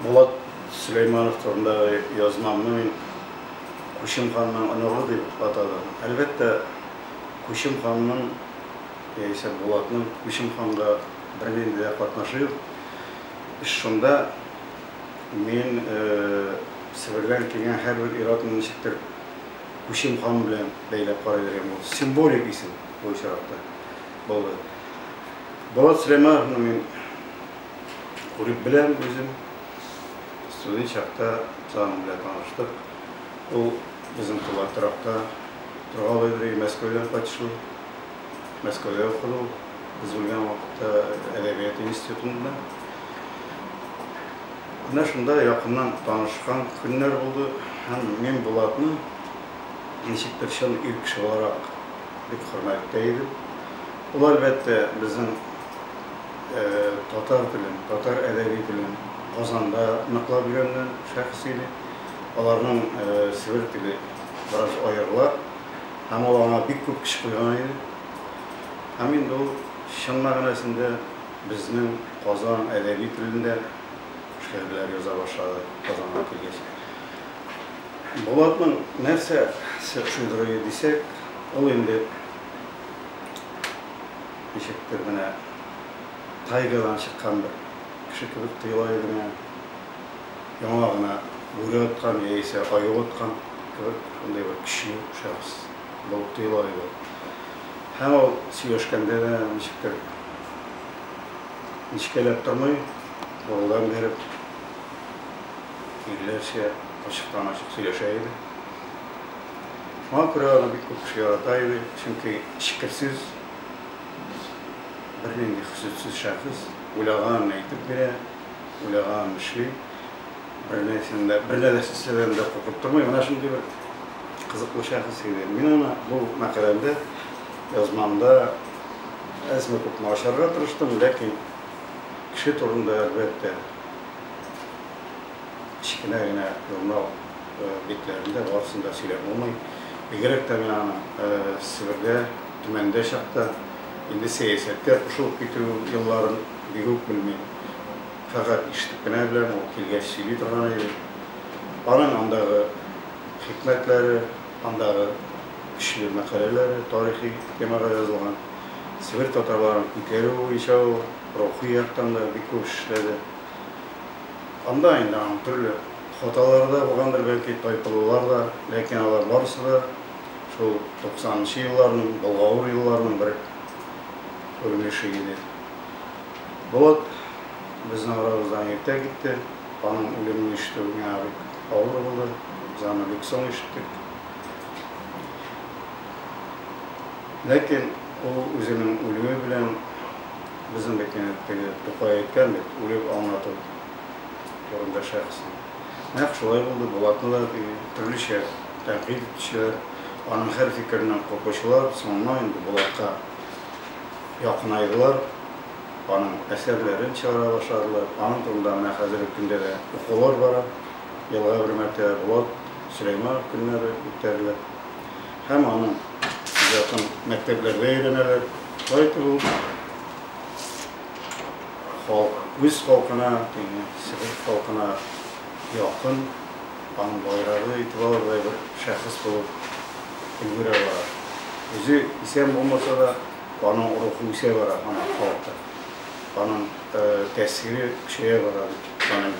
Булат Сөләйманов турындагы язмамны мин Күчем ханның оныгы дип атадым. Әлбәттә, Күчем ханның яисә Булатның Күчем ханга бернинди дә катнашы юк. Эш шунда, мин Себердән килгән һәрбер ир-атны ничектер Күчем хан белән бәйләп карый биргән булдым. Символик исем бу очракта булды. Булат Сөләймановны мин. Күреп беләм үзем, студент чакта Сан белән таныштык. Ул безнең туган торакта торгалый йөри, Мәскәүдән кайтышлый. Мәскәүдә укыды ул, без белгән вакытта әдәбият институтында. Менә шунда якыннан танышкан көннәр булды һәм мин Булатны ничектер чын ир кеше буларак бик хөрмәттә идем. Ул, әлбәттә, безнең татар телен, татар әдәби телен Казанда ныклап өйрәнгән шәхес иде. Аларның Себер теле бераз аерыла һәм ул аңа бик күп көч куйган иде. Һәм инде ул чын мәгънәсендә безнең Казан әдәби телендә шигырьләр яза башлады Казанга килгәч. Булатның нәрсә шедевры дисәк, ул инде Ничектер менә тайгадан чыккан бер кеше кебек тоела иде миңа. Яңа гына бүре откан яисә аю откан кебек, шундый бер көчле шәхес булып тоела иде. Һәм ул сөйләшкәндә дә ничектер нечкәләп тормый, борылдан биреп, ирләрчә ачыктан-ачык сөйләшә иде. Шуңа күрә аны бик күп кеше ярата иде, чөнки эчкерсез. Без бернинди хөсетсез шәхес, уйлаганын әйтеп бирә, уйлаганын эшли, бернәрсәне дә, бер нәрсәдән дә куркып тормый. Менә шундый бер кызыклы шәхес иде. Мин аны бу мәкаләмдә, язмамда әзме күпме ачарга тырыштым, ләкин кеше турында, әлбәттә, кечкенә генә журнал битләрендә барысын да сөйләп булмый. Бигрәк тә мин аны Себердә Төмәндә чакта, инде сәясәткә кушылып китү елларын бик үк белмим. Фәкать ишетеп кенә беләм, ул килгәч сөйли торган иде. Аның андагы хикмәтләре, андагы көчле мәкаләләре, тарихи темага язылган. Себер татарларын күтәрү буенча ул рухи яктан да бик күп эш эшләде. Анда инде аның төрле хаталары да булгандыр, бәлки, тайпылулар да, ләкин алар барысы да Шул 90 нчы елларның, болгавыр елларның бер күренеше иде. Булат безнең арабыздан иртә китте. Аның үлемен ишетү миңа бик авыр булды. Без аны бик соң ишеттек. Ләкин ул үзенең үлүе белән безнең бит менә теге Тукай әйткән бит, үлеп аңлату турында шәхеснең. Нәкъ шулай булды, Булатны да төрлечә тәнкыйть итүчеләр, аның һәр фикереннән куркучылар соңыннан инде Булатка якынайдылар, аның әсәрләрен чыгара башладылар. Аның турында менә хәзерге көндә дә укулар бара, елга бер мәртәбә Булат Сөләйманов көннәре үткәрелә һәм аның иҗатын мәктәпләрдә өйрәнәләр. Шулай итеп ул. Халк үз халкына, ягъни себер халкына якын, аның байрагы итеп алырдай бер шәхес булып өлгерә бара. Үзе исән булмаса да, аның рухы үсә бара, аның халкы, аның тәэсире көчәя бара дип саныйм.